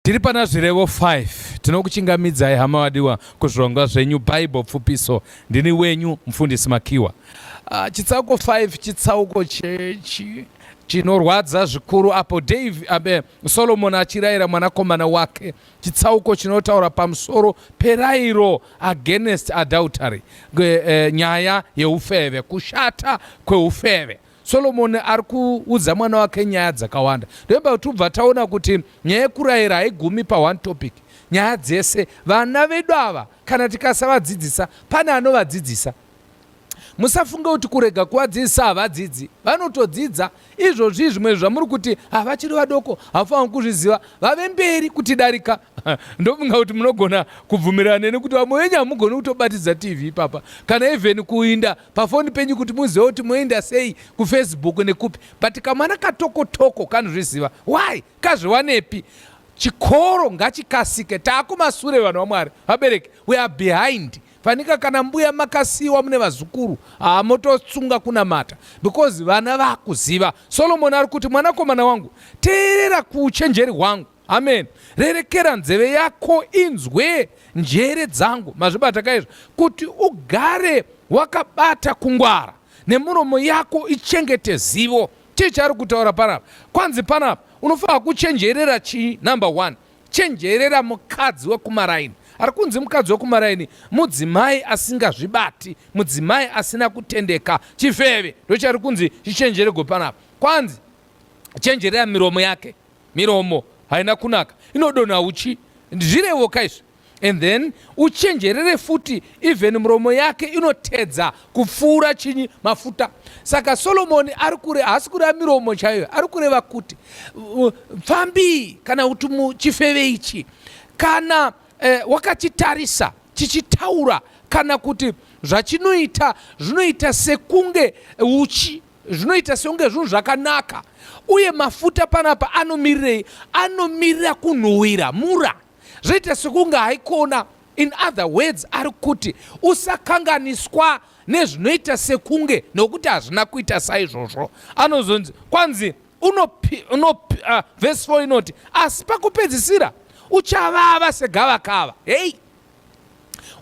Tiri pana zvirevo 5 tinokuchingamidzai hama vadiwa kuzvirongwa zvenyu Bible pfupiso. Ndini wenyu mufundisi Makiwa. Uh, chitsauko 5 chitsauko chechi chinorwadza zvikuru apo Dave abe Solomon achirayira mwanakomana wake chitsauko chinotaura pamusoro perairo against adultery e, nyaya yeufeve kushata kweufeve Solomoni ari kuudza mwana wake nyaya dzakawanda ndoimba kuti ubva taona kuti nyaya yekurayira haigumi paone topic nyaya dzese vana vedu ava kana tikasavadzidzisa pane anovadzidzisa musafunge kuti kurega kuvadzidzisa havadzidzi vanotodzidza izvozvi zvimwe zvamuri kuti havachiri ah, vadoko havafaniri kuzviziva vave mberi kuti darika ndofunga kuti munogona kubvumirana neni kuti vamwe venyu hamugoni kutobatidza tv ipapa kana even kuinda pafoni penyu kuti muzive kuti moenda sei kufacebook nekupi but kamwana katokotoko kanozviziva why kazviwanepi chikoro ngachikasike taakumasure vanhu vamwari vabereki we are behind fanika kana mbuya makasiyiwa mune vazukuru haa mototsunga kunamata because vana vakuziva solomoni ari kuti mwanakomana wangu teerera kuuchenjeri hwangu Amen. Rerekera nzeve yako inzwe njere dzangu. Mazvibata kaizvo kuti ugare wakabata kungwara nemuromo yako ichengete zivo. Chii chaari kutaura panapa? Kwanzi panapa unofanira kuchenjerera chii? Number one, chenjerera mukadzi wekumaraini. Ari kunzi mukadzi wekumaraini mudzimai asingazvibati, mudzimai asina kutendeka, chifeve. Ndochari kunzi chichenjerego panapa. Kwanzi chenjerera miromo yake miromo haina kunaka inodonha uchi zvirevoka izvi and then uchenjerere futi even muromo yake inotedza kupfuura chinyi mafuta saka solomoni ari kure haasi kureva miromo chaiyo ari kureva kuti pfambii kana kuti muchifeve ichi kana eh, wakachitarisa chichitaura kana kuti zvachinoita zvinoita sekunge uchi zvinoita sekunge zvinhu zvakanaka uye mafuta panapa anomirirei anomirira kunhuhwira mura zvoita sekunge haikona in other words ari kuti usakanganiswa nezvinoita sekunge nokuti hazvina kuita saizvozvo anozonzi kwanzi unopi, unopi, uh, vhesi 4 inoti asi pakupedzisira uchavava segavakava hei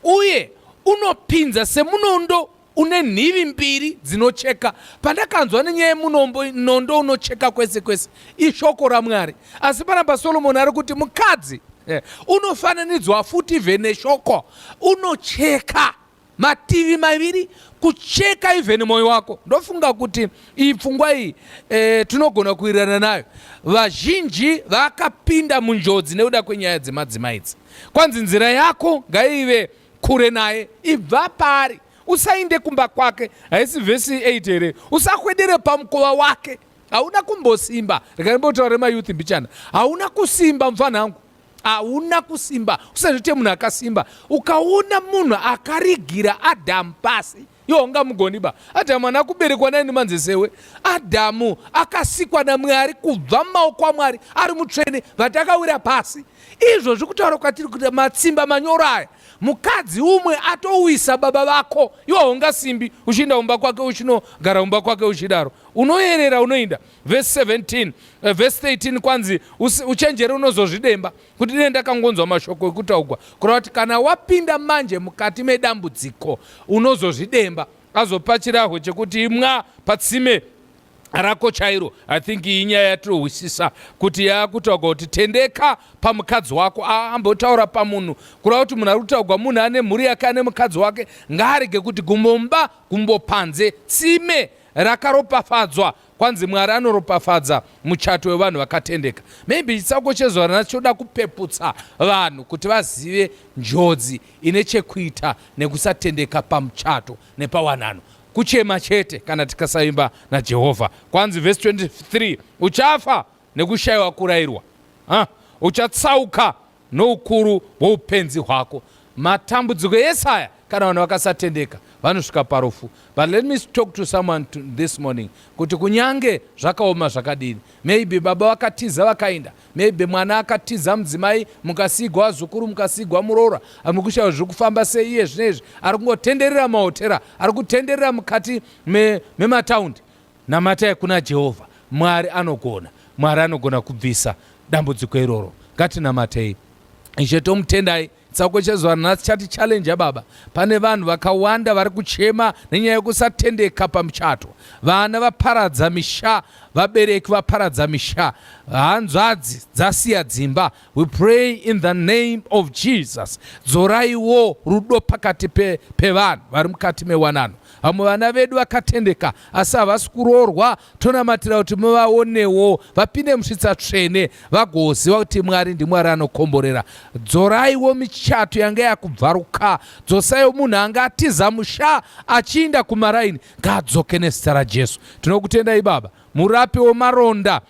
uye unopinza semunondo une nhivi mbiri dzinocheka pandakanzwa nenyaya yemunombo nondo unocheka kwese kwese ishoko ramwari asi panapa solomoni ari kuti mukadzi eh, unofananidzwa futi ve neshoko unocheka mativi maviri kucheka even mwoyo wako ndofunga kuti iyi pfungwa iyi e, tinogona kuwirirana nayo vazhinji vakapinda munjodzi nekuda kwenyaya dzemadzimai idzi kwanzi nzira yako ngaive kure naye ibva paari usainde kumba kwake haisi vhesi 8 here usakwedere pamukova wake hauna kumbosimba rekaimbotaure mayouth mbichana hauna kusimba mupfana wangu hauna kusimba usazviite munhu akasimba ukaona munhu akarigira adamu pasi Yo ungamugoni ba. Adhamu ana kuberekwa naye nemanze sewe. Adhamu akasikwa naMwari kubva mumaoko aMwari ari mutsvene vati akawira pasi. Izvo zviri kutaura kwatiri kuti matsimba manyoro aya mukadzi umwe atowisa baba vako iwe haunga simbi uchiinda kumba kwake uchinogara kumba kwake uchidaro unoyerera unoinda vhesi 17 vhesi 13 kwanzi uchenjere unozozvidemba kuti dai ndakangonzwa mashoko ekutaugwa kurati kana wapinda manje mukati medambudziko unozozvidemba azopa chirahwe chekuti imwa patsime rako chairo i think iyi nyaya yatinohwisisa kuti yaakutaurwa kuti tendeka pamukadzi wako aambotaura pamunhu kureva kuti munhu ari kutaurwa munhu ane mhuri yake ane mukadzi wake ngaarege kuti gumbomba gumbopanze tsime rakaropafadzwa Kwanzi Mwari anoropafadza muchato wevanhu vakatendeka. Maybe chitsauko chezuva rina choda kupeputsa vanhu kuti vazive njodzi ine chekuita nekusatendeka pamuchato nepawanano. Kuchema chete kana tikasaimba naJehovha. Kwanzi vhesi 23 uchafa nekushayiwa kurairwa. Ha? Uchatsauka Noukuru hwoupenzi hwako. Matambudziko ese aya kana vanhu vakasatendeka vanosvika parufu but let me talk to someone to this morning kuti kunyange zvakaoma zvakadini maybe baba vakatiza vakainda maybe mwana akatiza mudzimai mukasigwa vazukuru mukasigwa muroora amwe kushaya zviri kufamba sei iye zvino izvi ari kungotenderera mahotera ari kutenderera mukati memataundi me Namatai kuna Jehovha, Mwari anogona. Mwari anogona kubvisa dambudziko iroro. Ngatinamatei. Ishe tomutendai tsauko chezuva nhasi chati challenge baba pane vanhu vakawanda vari kuchema nenyaya yekusatendeka pamuchato vana vaparadza misha vabereki vaparadza misha hanzvadzi dzasiya dzimba We pray in the name of Jesus. Dzoraiwo rudo pakati pe, pevanhu vari mukati mewanano. Vamwe vana vedu vakatendeka asi havasi kuroorwa, tonamatira kuti muvaonewo vapinde musvitsa tsvene vagoziva kuti Mwari ndiMwari anokomborera. Dzoraiwo michato yanga yakubvaruka, dzosaiwo munhu anga atiza musha achiinda kumaraini ngaadzoke nezita raJesu. Tinokutendai Baba, murapi wemaronda